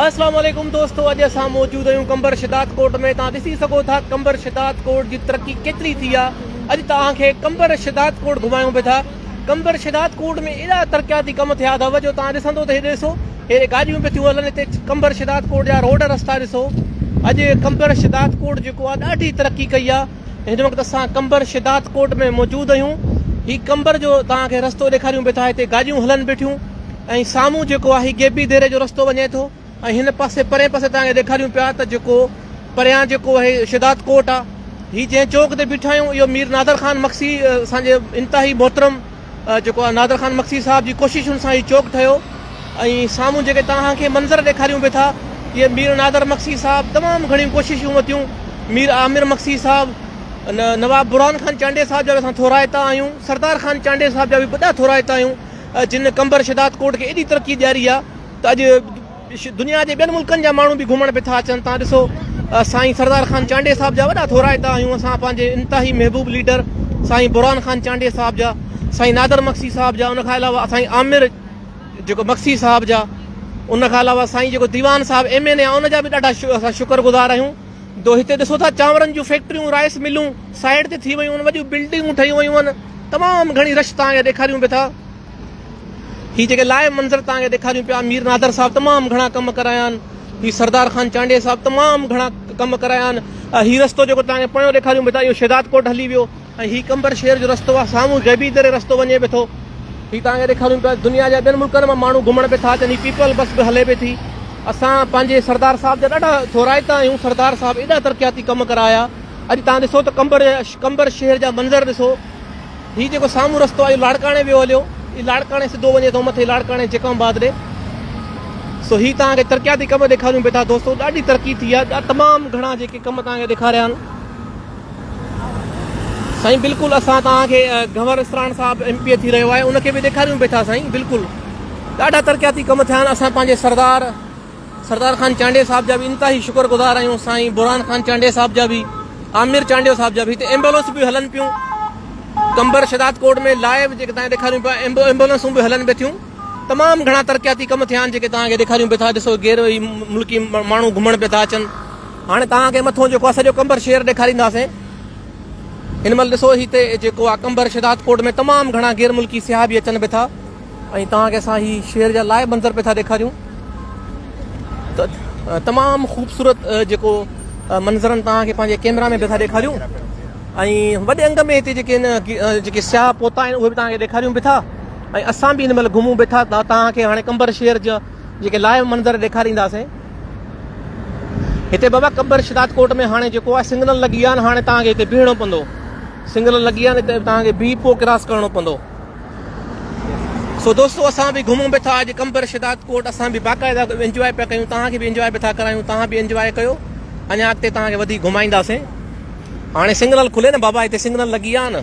اسلام عليڪم دوستو اڄ اسان موجود آهيون قمبر شداد ڪوٽ ۾ تان ڏسي سگهو ٿا قمبر شداد ڪوٽ جي ترقي ڪيتري ٿي آ اڄ تان کي قمبر شداد ڪوٽ گهمايون به ٿا قمبر شداد ڪوٽ ۾ ايڏا ترقياتي ڪم ٿيا ٿا جو تان ڏسندو ته هي ڏسو هي گاڏيون به ٿيون هلن هتي قمبر شداد ڪوٽ جا روڊ رستا ڏسو اڄ قمبر شداد ڪوٽ جيڪو آ ڏاڍي ترقي ڪئي آ هن وقت اسان قمبر شداد ڪوٽ ۾ موجود آهيون هي قمبر جو توهان کي رستو ڏيکاريون به ٿا هتي گاڏيون هلن بيٺيون ۽ سامهون جيڪو آهي گيبي ديري جو رستو وڃي ٿو ۽ هن پاسي پرين پاسي توهان کي ڏيکاريون پيا ته جيڪو پريان جيڪو آهي شداد ڪوٽ آهي هي جنهن چوڪ تي بيٺا آهيون اهو مير نادر خان مگسي اسان جي انتهائي محترم جيڪو آ نادر خان مگسي صاحب جي ڪوششن سان هي چوڪ ٺهيو ۽ سامهون جيڪي توهان کي منظر ڏيکاريون به ٿا اهي مير نادر مگسي صاحب تمام گهڻيون ڪوششون وتيون مير عامر مگسي صاحب نواب برهان خان چانڊيي صاحب جا به اسان ٿورائتا آهيون سردار خان چانڊيي صاحب جا به وڏا ٿورائتا آهيون جن قمبر شهدادڪوٽ کي ايڏي ترقي ڏياري آ ته اڄ دنيا جي ٻين ملڪن جا ماڻهو به گهمڻ به ٿا اچن تان ڏسو سائين سردار خان چانڊيي صاحب جا وڏا ٿورائتا آهيون اسان پنهنجي انتهائي محبوب ليڊر سائين برهان خان چانڊيي صاحب جا سائين نادر مگسي صاحب جا ان کان علاوه سائين عامر جيڪو مگسي صاحب جا ان کان علاوه سائين جيڪو ديوان صاحب ايم اين اي ان جا به ڏاڍا اسان شڪر گذار آهيون جو هتي ڏسو ٿا چانورن جون فيڪٽريون رائس ملون سائيڊ تي ٿي ويون آهن وڏيون بلڊنگون ٺهيون ويون آهن تمام گهڻي رش تان ڏيکاريون به ٿا هي جيڪي لائيو منظر توهان کي ڏيکاريون پيا مير نادر صاحب تمام گهڻا ڪم ڪرايا آهن هي سردار خان چانڊيي صاحب تمام گهڻا ڪم ڪرايا آهن هي رستو جيڪو توهان کي پويو ڏيکاريون بيتا اهو شهداد ڪوٽ هلي ويو ۽ هي قمبر شهر جو رستو آهي سامهون غيبي دري رستو وڃي به ٿو هي توهان کي ڏيکاريون پيا دنيا جا ٻين ملڪن مان ماڻهو گهمڻ به ٿا اچن هي پيپل بس به هلي به ٿي اسان پنهنجي سردار صاحب جا ڏاڍا ٿورائتا آهيون سردار صاحب ايڏا ترقياتي ڪم ڪرايا اڄ توهان ڏسو ته قمبر قمبر شهر جا منظر ڏسو هي جيڪو سامهون رستو آهي اهو لاڙڪاڻي ويو هليو. هي لاڙڪاڻي سڌو وڃي ٿو مٿي لاڙڪاڻي جيڪم آباد ڏي. سو هي توهان کي ترقياتي ڪم ڏيکاريون پئي ٿا دوستو ڏاڍي ترقي ٿي آهي تمام گهڻا جيڪي ڪم توهان کي ڏيکاريا آهن سائين بلڪل اسان توهان کي گهور اسراڻ صاحب ايم پي اي ٿي رهيو آهي ان کي به ڏيکاريون پئي ٿا سائين بلڪل ڏاڍا ترقياتي ڪم ٿيا آهن اسان پنهنجي سردار سردار خان چانڊيو صاحب جا به انتهائي شڪر گذار آهيون سائين برهان خان چانڊيو صاحب جا به عامر چانڊيو صاحب جا به هتي ايمبولنس به هلن پيون ڪمبر شداد ڪوٽ ۾ لائيو جيڪي تان ڏيکاريون پيا ايمبولنسون به هلن به ٿيون تمام گهڻا ترقياتي ڪم ٿيا آهن جيڪي تان کي ڏيکاريون به ٿا ڏسو غير ملڪي ماڻهو گهمڻ به ٿا اچن هاڻي تان کي مٿو جيڪو سڄو ڪمبر شهر ڏيکارينداسين هن مهل ڏسو هتي جيڪو ڪمبر شداد ڪوٽ ۾ تمام گهڻا غير ملڪي سياح به اچن به ٿا ۽ توهان کي اسان هي شهر جا لائيو منظر پئي ٿا ڏيکاريون ته تمام خوبصورت جيڪو منظرن توهان کي پنهنجي ڪيمرا ۾ پئي ٿا ڏيکاريون ۽ وڏي انگ ۾ هتي جيڪي جيڪي سياح پهتا آهن اهي به توهان کي ڏيکاريون به ٿا ۽ اسان به هن مهل گهمون به ٿا توهان کي هاڻي قمبر شهر جا جيڪي لائيو منظر ڏيکارينداسين هتي بابا قمبر شداد ڪوٽ ۾ هاڻي جيڪو آهي سنگنل لڳي ويا آهن هاڻي توهان کي هتي بيهڻو پوندو سنگنل لڳي ويا آهن هتي توهان کي بيهي پوء ڪراس ڪرڻو پوندو سو دوستو اسان به گهمون به ٿا اڄ قمبر شداد ڪوٽ اسان به باقاعده انجوائي پيا ڪيون توهان کي به انجوائي به ٿا ڪرايون توهان به انجوائي ڪيو اڃا اڳتي توهان کي وڌيڪ گهمائينداسين هاڻي سگنل کلي نه بابا هتي سگنل لڳي آ نه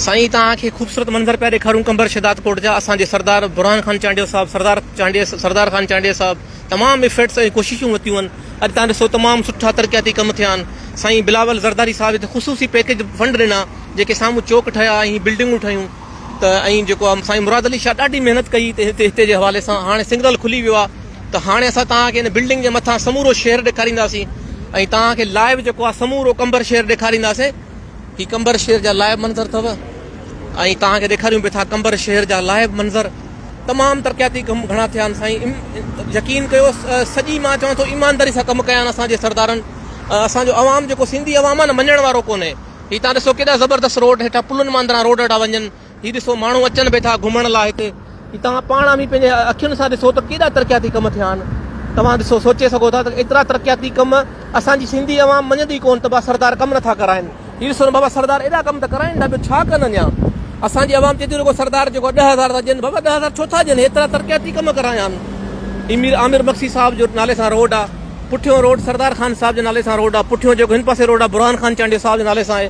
سائين توهان کي خوبصورت منظر پيا ڏيکاريون قمبر شداد ڪوٽ جا اسان جي سردار برهان خان چانڊيو صاحب سردار چانڊيو سردار خان چانڊيو صاحب تمام ايفرٽس ۽ ڪوششون وتيون آهن اڄ تان ڏسو تمام سٺا ترقياتي ڪم ٿيا آهن سائين بلاول زرداري صاحب هتي خصوصي پيڪيج فنڊ ڏنا جيڪي سامهون چوڪ ٺهيا ۽ هي بلڊنگون ٺهيون ته ۽ جيڪو آهي سائين مراد علي شاهه ڏاڍي محنت ڪئي ته هتي هتي جي حوالي سان هاڻي سنگرل کلي ويو آهي ته هاڻي اسان تان کي هن بلڊنگ جي مٿان سمورو شهر ڏيکارينداسين ۽ تان کي لائيو جيڪو آهي سمورو قمبر شهر ڏيکارينداسين هي قمبر شهر جا لائيو منظر اٿو ۽ توهان کي ڏيکاريون به ٿا قمبر شهر جا لائيو منظر تمام ترقياتي ڪم گهڻا ٿيا آهن سائين يقين ڪيو سڄي مان چوان ٿو ايمانداري سان ڪم ڪيا آهن اسان جي سردارن اسان جو عوام جيڪو سنڌي عوام آهي نه مڃڻ وارو ڪونهي هي تان ڏسو ڪيڏا زبردست روڊ هيٺا پلن ماندران روڊ هيٺا وڃن هي ڏسو ماڻهو اچن به ٿا گهمڻ لاء هتي هي توهان پاڻ اوهين پنهنجي اکين سان ڏسو ته ڪيڏا ترقياتي ڪم ٿيا آهن توهان ڏسو سوچي سگهو ٿا ته ايترا ترقياتي ڪم اسان جي سنڌي عوام مڃندي ڪون ته بابا سردار ڪم نٿا ڪرائين هي ڏسو نه بابا سردار ايڏا ڪم ته ڪرائين ٿا ٻيو ڇا ڪن اڃا اسان جي عوام چئي ٿي رڳو سردار جيڪو ڏهه هزار ٿا ڏين بابا ڏهه هزار ڇو ٿا ڏين ايترا ترقياتي ڪم ڪرايا آهن هي مير عامر مگسي صاحب جو نالي سان روڊ آهي پٺيون روڊ سردار خان صاحب جي نالي سان روڊ آهي پٺيون جيڪو هن پاسي روڊ آهي برهان خان چانڊيو صاحب جي نالي سان آهي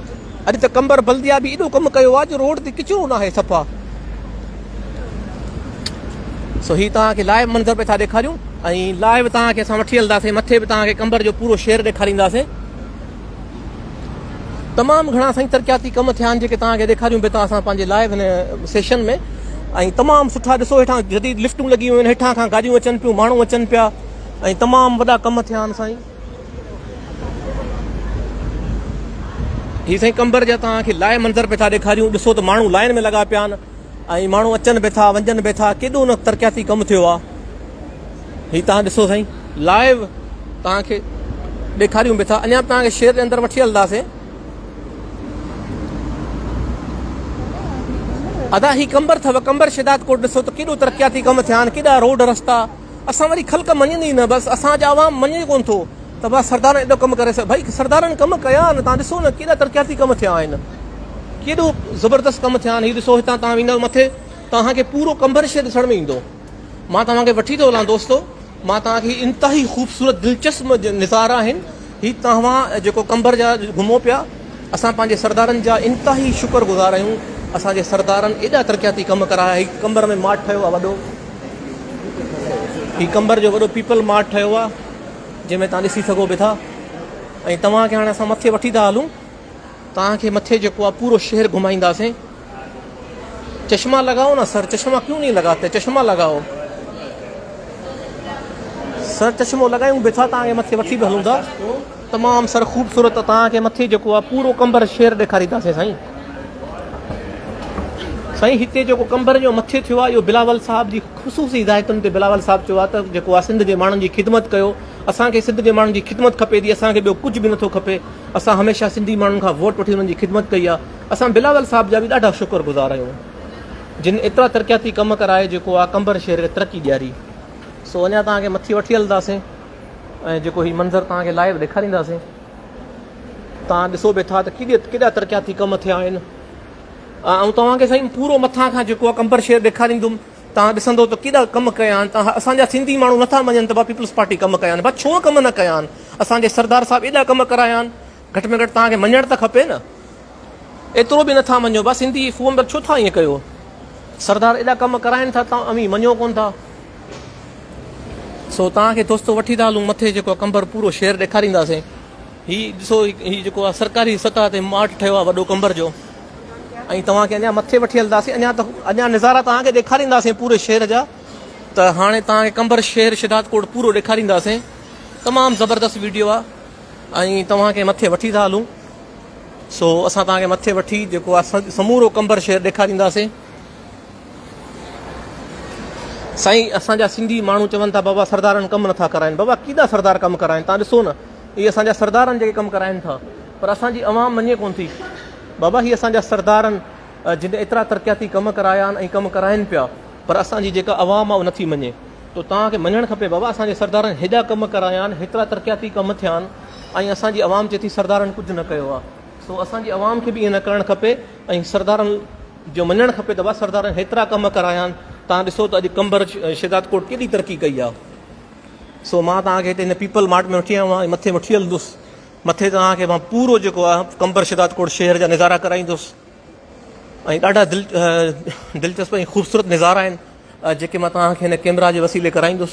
اڄ ته قمبر بلديا به ايڏو ڪم ڪيو آ جو روڊ تي ڪچرو ناهي صفا سو هي توهان کي لائيو منظر پئي ٿا ڏيکاريون ۽ لائيو توهان کي اسان وٺي هلنداسين مٿي به توهان کي قمبر جو پورو شهر ڏيکارينداسين تمام گھڻا سائين ترقياتي ڪم ٿيا آهن جيڪي توهان کي ڏيکاريون به ٿا اسان پنهنجي لائيو هن سيشن ۾ ۽ تمام سٺا ڏسو هيٺان جديد لفٽون لڳي ويون آهن هيٺان کان گاڏيون اچن پيون ماڻهو اچن پيا ۽ تمام وڏا ڪم ٿيا آهن سائين هي سائين قمبر جا توهان کي لائي منظر پئي ٿا ڏيکاريون ڏسو ته ماڻهو لائن ۾ لڳا پيا آهن ۽ ماڻهو اچن به ٿا ونجن به ٿا ڪيڏو نه ترقياتي ڪم ٿيو آهي هي توهان ڏسو سائين لائيو توهان کي ڏيکاريون به ٿا اڃا توهان کي شهر جي اندر وٺي هلنداسين ادا هي قمبر ٿو قمبر شهداد ڪوٽ ڏسو ته ڪيڏو ترقياتي ڪم ٿيا آهن ڪيڏا روڊ رستا اسان وري خلق مڃيندي ئي نه بس اسان جا عوام مڃي ئي ڪونه ٿو ته واھ سردارن ايڏو ڪم ڪري سگهي ڀئي سردارن ڪم ڪيا آهن توهان ڏسو نه ڪيڏا ترقياتي ڪم ٿيا آهن ڪيڏو زبردست ڪم ٿيا آهن هي ڏسو هتان توهان ويندو مٿي توهان کي پورو قمبر شهر ڏسڻ ۾ ايندو مان توهان کي وٺي ٿو هلان دوستو مان توهان کي انتهائي خوبصورت دلچسپ نظارا آهن هي توهان جيڪو قنبر جا گهمو پيا اسان پنهنجي سردارن جا انتهائي شڪر گذار آهيون اسان جي سردارن ايڏا ترقياتي ڪم ڪرايا هي قنبر ۾ ماٺ ٺهيو آهي وڏو هي قنبر جو وڏو پيپل ماٺ ٺهيو آهي جنهن ۾ توهان ڏسي سگهو به ٿا ۽ توهان کي هاڻي اسان مٿي وٺي ٿا هلون توهان کي مٿي جيڪو آهي پورو شهر گهمائينداسين. چشما لگائو نه سر چشما ڪيون نهي لگاتي چشما لگائو سر چشمو لگائيون به ٿا توهان کي مٿي وٺي به هلون ٿا تمام سر خوبصورت توهان کي مٿي جيڪو آهي پورو ڪنڀر شهر ڏيکارينداسين سائين سائين هتي جيڪو ڪنڀر جو مٿي ٿيو آهي اهو بلاول صاحب جي خصوصي هدايتن تي بلاول صاحب چيو آهي ته جيڪو آهي سنڌ جي ماڻهن جي خدمت ڪيو اسان کي سنڌ جي ماڻهن جي خدمت کپي ٿي اسان کي ٻيو ڪجهه به نٿو کپي اسان هميشه سنڌي ماڻهن کان ووٽ وٺي انهن جي خدمت ڪئي آهي اسان بلاول صاحب جا به ڏاڍا شڪر گذار آهيون جن ايترا ترقياتي ڪم ڪرائي جيڪو آ قمبر شهر کي ترقي ڏياري سو اڃا توهان کي مٿي وٺي هلنداسين ۽ جيڪو هي منظر توهان کي لائيو ڏيکارينداسين توهان ڏسو به ٿا ته ڪيڏي ڪيڏا ترقياتي ڪم ٿيا آهن آئون توهان کي سائين پورو مٿان کان جيڪو آ قمبر شهر ڏيکاريندم تان ڏسندو ته ڪيڏا ڪم ڪيا آھن تان اسان جا سنڌي ماڻھو نه ٿا مڃن ته ڀا پيپلز پارٽي ڪم ڪيا آھن ڀا ڇو ڪم نه ڪيا آھن اسان جي سردار صاحب ايڏا ڪم ڪرايا آھن گھٽ ۾ گھٽ تان کي مڃڻ ته کپي نه ايترو به نه ٿا مڃو ڀا سنڌي فوم ڏ ڇو ٿا ايئن ڪيو سردار ايڏا ڪم ڪرائين ٿا تان اوھين مڃو ڪون ٿا سو تان کي دوستو وٺي ٿا ھلون مٿي جيڪو ڪنڀر پورو شھر ڏيکارينداسين. هي ڏسو هي جيڪو آ سرڪاري سطح تي ماٺ ٺهيو آ وڏو قمبر جو ۽ توهان کي اڃا مٿي وٺي هلنداسين اڃا ته اڃا نظارا توهان کي ڏيکارينداسين پوري شهر جا ته هاڻي توهان کي قمبر شهر شداد ڪوٽ پورو ڏيکارينداسين تمام زبردست ويڊيو آ ۽ توهان کي مٿي وٺي ٿا هلون سو اسان توهان کي مٿي وٺي جيڪو آ سمورو قمبر شهر ڏيکارينداسين سائين اسان جا سنڌي ماڻهو چون ٿا بابا سردارن ڪم نٿا ڪرائين بابا ڪيڏا سردار ڪم ڪرائين تان ڏسو نه اهي اسان جا سردار آهن جيڪي ڪم ڪرائين ٿا پر اسان جي عوام مڃي ڪونه ٿي بابا هي اسان جا سردار آهن جن ايترا ترقياتي ڪم ڪرايا آهن ۽ ڪم ڪرائين پيا پر اسان جي جيڪا عوام آهي نٿي مڃي تو توهان کي مڃڻ کپي بابا اسان جي سردارن هيڏا ڪم ڪرايا آهن هيترا ترقياتي ڪم ٿيا آهن ۽ اسان جي عوام چي ٿي سردارن ڪجهه نه ڪيو آهي سو اسان جي عوام کي به ائين نه ڪرڻ کپي ۽ سردارن جو مڃڻ کپي ته بابا سردارن هيترا ڪم ڪرايا آهن تان ڏسو ته اڄ قمبر شهدادڪوٽ ڪيڏي ترقي ڪئي آهي سو مان توهان کي هتي هن پيپل مارٽ ۾ وٺي آيو آهيان ۽ مٿي وٺي هلندس. مٿي توهان کي مان پورو جيڪو آهي قمبر شداد ڪوٽ شهر جا نظارا ڪرائيندس ۽ ڏاڍا دل دلچسپ ۽ خوبصورت نظارا آهن جيڪي مان توهان کي هن ڪيمرا جي وسيلي ڪرائيندس.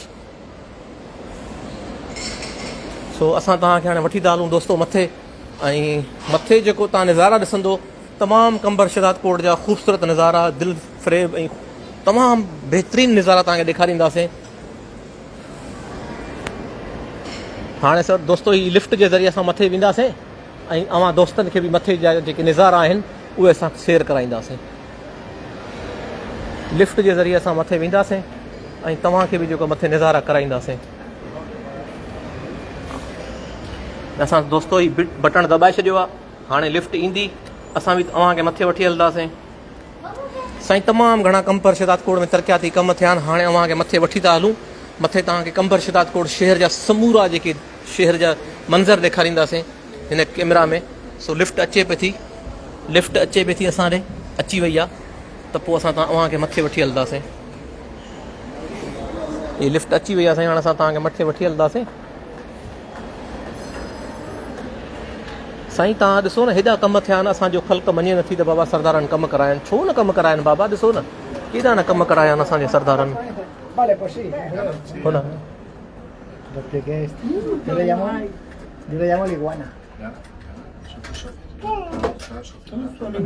سو اسان توهان کي هاڻي وٺي ٿا هلون دوستو مٿي ۽ مٿي جيڪو توهان نظارا ڏسندو تمام قمبر شداد ڪوٽ جا خوبصورت نظارا دل فريب ۽ تمام بهترين نظارا توهان کي ڏيکارينداسين. هاڻي سر دوستو هي لفٽ جي ذريعي اسان مٿي وينداسين ۽ اوهان دوستن کي به مٿي جا جيڪي نظارا آهن اهي اسان سير ڪرائينداسين لفٽ جي ذريعي اسان مٿي وينداسين ۽ توهان کي به جيڪو مٿي نظارا ڪرائينداسين اسان دوستو هي بٽڻ دٻائي ڇڏيو آهي هاڻي لفٽ ايندي اسان به اوهان کي مٿي وٺي هلنداسين سائين تمام گهڻا قمبر شهداد ڪوٽ ۾ ترقياتي ڪم ٿيا آهن هاڻي اوهان کي مٿي وٺي ٿا هلون مٿي توهان کي قمبر شهداد ڪوٽ شهر جا سمورا جيڪي شهر جا منظر ڏيکارينداسين هن ڪيمرا ۾ سو لفٽ اچي پئي ٿي لفٽ اچي پئي ٿي اسان ڏي اچي وئي آ ته پوء اسان اوهان کي مٿي وٺي هلنداسين هي لفٽ اچي وئي آ سائين هاڻ اسان توهان کي مٿي وٺي هلنداسين سائين توهان ڏسو نه هيڏا ڪم ٿيا آهن اسان جو خلق مڃي نه ٿي ته بابا سردارن ڪم ڪرايا ڇو نه ڪم ڪرايا آهن بابا ڏسو نه ڪيڏا نه ڪم ڪرايا آهن اسان جي سردارن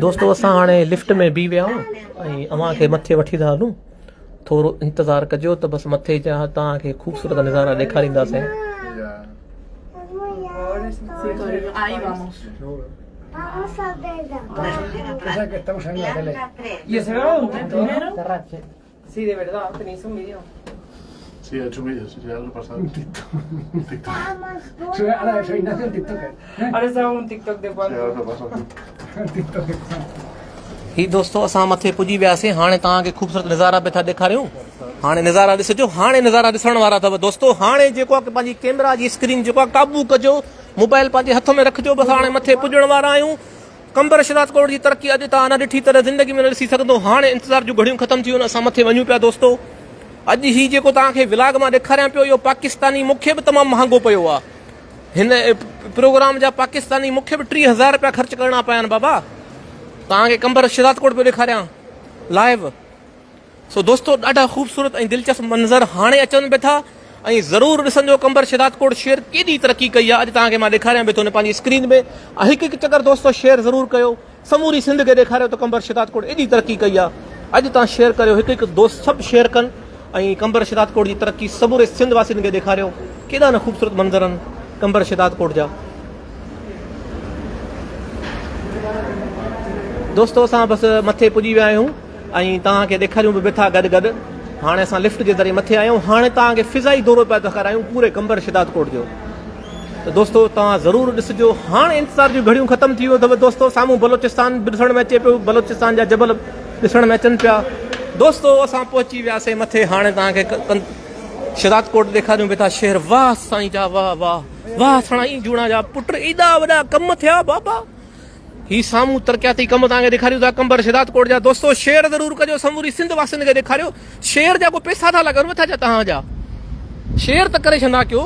دوستو اسان هاڻي لفٽ ۾ بيهي ويا آهيون ۽ اوهان کي مٿي وٺي ٿا هلون ٿورو انتظار ڪجو ته بس مٿي جا توهان کي خوبصورت نظارا ڏيکارينداسين. هي دوستو اسان مٿي پڄي وياسين هاڻي توهان کي خوبصورت نظارا به ٿا ڏيکاريون هاڻي نظارا ڏسجو هاڻي نظارا ڏسڻ وارا اٿو دوستو هاڻي جيڪو آهي پنهنجي ڪيمرا جي اسڪرين جيڪو آهي قابو ڪجو موبائل پنهنجي هٿ ۾ رکجو بس هاڻي مٿي پڄڻ وارا آهيون قمبر شهداد ڪوٽ جي ترقي اڄ تان نه ڏٺي تڏهن زندگي ۾ نه ڏسي سگهندو هاڻي انتظار جون گهڙيون ختم ٿيون اسان مٿي وڃون پيا دوستو اڄ هي جيڪو توهان کي ولاگ مان ڏيکاريان پيو اهو پاڪستاني مون کي به تمام مهانگو پيو آ هن پروگرام جا پاڪستاني مون کي به ٽي هزار رپيا خرچ ڪرڻا پيا آهن بابا توهان کي قمبر شهداد ڪوٽ پيو ڏيکاريان لائيو سو دوستو ڏاڍا خوبصورت ۽ دلچسپ منظر هاڻي اچن به ٿا ۽ ضرور ڏسنجو قمبر شهدادڪوٽ شهر ڪيڏي ترقي ڪئي آهي اڄ توهان کي مان ڏيکاريان به ٿو ان پنهنجي اسڪرين ۾ هڪ هڪ چڪر دوستو شيئر ضرور ڪيو سموري سنڌ کي ڏيکاريو ته قمبر شهدادڪوٽ ايڏي ترقي ڪئي آهي اڄ توهان شيئر ڪريو هڪ هڪ دوست سڀ شيئر ڪن ۽ قمبر شهدادڪوٽ جي ترقي سموري سنڌ واسين کي ڏيکاريو ڪيڏا نه خوبصورت منظر آهن قمبر شهدادڪوٽ جا دوستو اسان بس مٿي پڄي ويا آهيون. ۽ توهان کي ڏيکاريون به بيٺا گڏ گڏ هاڻي اسان لفٽ جي ذريعي مٿي آيون هاڻي توهان کي فضائي دورو پيا ڏيکارايون پوري قمبر شداد ڪوٽ جو ته دوستو توهان ضرور ڏسجو هاڻي انتظار جون گهڙيون ختم ٿي ويو اٿو دوستو سامهون بلوچستان به ڏسڻ ۾ اچي پيو بلوچستان جا جبل ڏسڻ ۾ اچن پيا دوستو اسان پهچي وياسي مٿي هاڻي توهان کي شداد ڪوٽ ڏيکاريون بيٺا شهر واه سائين جا واه واه واه سڻائي جوڻا جا پٽ ايڏا وڏا ڪم ٿيا بابا هي سامهون ترقياتي ڪم توهان کي ڏيکاريون ٿا قمبر شهدادڪوٽ جا دوستو شيئر ضرور ڪجو سموري سنڌ واسين کي ڏيکاريو شيئر جا ڪو پيسا ٿا لڳن مٿا جا توهان جا شيئر ته ڪري ڇندا ڪيو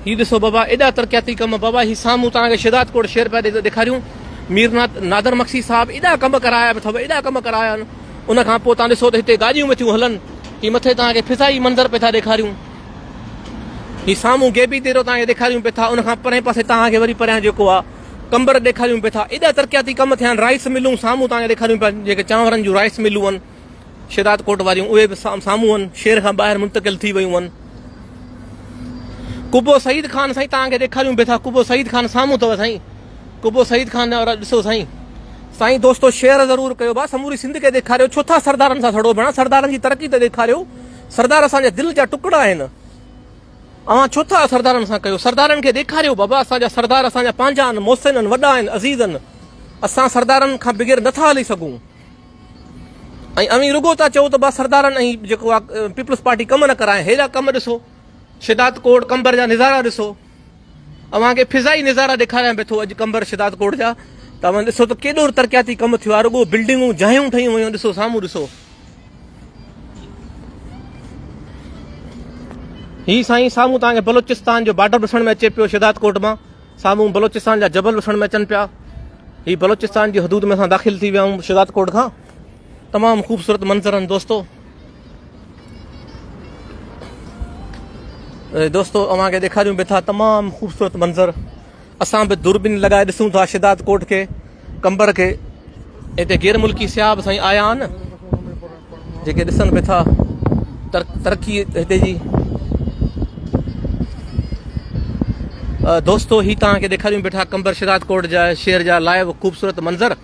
هي ڏسو بابا ايڏا ترقياتي ڪم بابا هي سامهون توهان کي شهدادڪوٽ شيئر پيا ڏيکاريون مير نادر مکسي صاحب ايڏا ڪم ڪرايا به اٿو ايڏا ڪم ڪرايا آهن ان کان پوء توهان ڏسو ته هتي گاڏيون به ٿيون هلن هي مٿي توهان کي فضائي منظر پئي ٿا ڏيکاريون هي سامهون گيبي ديرو توهان کي ڏيکاريون پئي ٿا ان کان پرئين پاسي توهان کي وري پريان جيڪو آ قمبر ڏيکاريون پئي ٿا ايڏا ترقياتي ڪم ٿيا آهن رائس ملون سامهون توهان کي ڏيکاريون پيا جيڪي چانورن جون رائس ملون آهن شهداد ڪوٽ واريون اهي به سامهون آهن شهر کان ٻاهر منتقل ٿي ويون آهن قبو سعيد خان سائين توهان کي ڏيکاريون پئي ٿا قبو سعيد خان سامهون اٿو سائين قبو سعيد خان ڏسو سائين سائين دوستو شيئر ضرور ڪيو با سموري سنڌ کي ڏيکاريو ڇو ٿا سردارن سان سڙو ڀيڻا سردارن جي ترقي ته ڏيکاريو سردار اسان جا دل جا ٽڪڙا آهن اوهان ڇو ٿا سردارن سان ڪيو سردارن کي ڏيکاريو بابا اسان جا سردار اسان جا پنهنجا آهن محسن آهن وڏا آهن عزيز آهن اسان سردارن کان بغير نٿا هلي سگهون ۽ اوهين رڳو ٿا چئو ته با سردارن ۽ جيڪو آ پيپلز پارٽي ڪم نه ڪرائي هيڏا ڪم ڏسو شداد ڪوٽ ڪمبر جا نظارا ڏسو اوهان کي فضائي نظارا ڏيکاريان به ٿو اڄ قمبر شهداد ڪوٽ جا ته اوهان ڏسو ته ڪيڏو ترقياتي ڪم ٿيو آهي رڳو بلڊنگون جايون ٺهيون ويون ڏسو سامهون ڏسو هي سائين سامهون توهان کي بلوچستان جو بارڊر ڏسڻ ۾ اچي پيو شهداد ڪوٽ مان سامهون بلوچستان جا جبل ڏسڻ ۾ اچن پيا هي بلوچستان جي حدود ۾ اسان داخل ٿي ويا آهيون شهداد ڪوٽ کان تمام خوبصورت منظر آهن دوستو دوستو اوهان کي ڏيکاريون به ٿا تمام خوبصورت منظر اسان به دوربين لڳائي ڏسون ٿا شداد ڪوٽ کي ڪمبر کي هتي غير ملڪي سياح به سائين آيا آهن جيڪي ڏسن به ٿا ترقي هتي جي دوستو هي تان کي ڏيکاريون به ٿا ڪمبر شداد ڪوٽ جا شهر جا لائيو خوبصورت منظر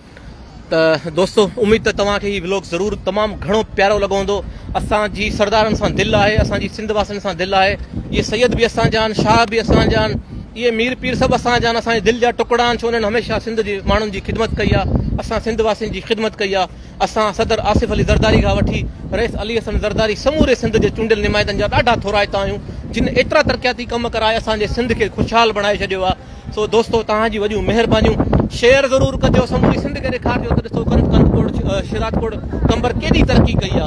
ته دوستو اميد ته توهان کي هي ولاگ ضرور تمام گهڻو پيارو لڳو هوندو اسان جي سردارن سان دل آهي اسان جي سنڌ واسين سان دل آهي اهي سيد به اسان جا آهن شاهه به اسان جا آهن اهي مير پير سڀ اسان جا آهن اسان جي دل جا ٽڪڙا آهن ڇو انهن هميشه سنڌ جي ماڻهن جي خدمت ڪئي آهي اسان سنڌ واسين جي خدمت ڪئي آهي اسان صدر آصف علي زرداري کان وٺي رئيس علي حسن زرداري سموري سنڌ جي چونڊيل نمائندن جا ڏاڍا ٿورائتا آهيون جن ايترا ترقياتي ڪم ڪرائي اسان جي سنڌ کي خوشحال بڻائي ڇڏيو آهي سو دوستو توهان جون وڏيون مهربانيون شيئر ضرور ڪجو سموري سنڌ کي ڏيکارجو ته ڏسو ڪنڌ ڪنڌ ڪوڙ شيراتڪوڙ قمبر ڪيڏي ترقي ڪئي آ.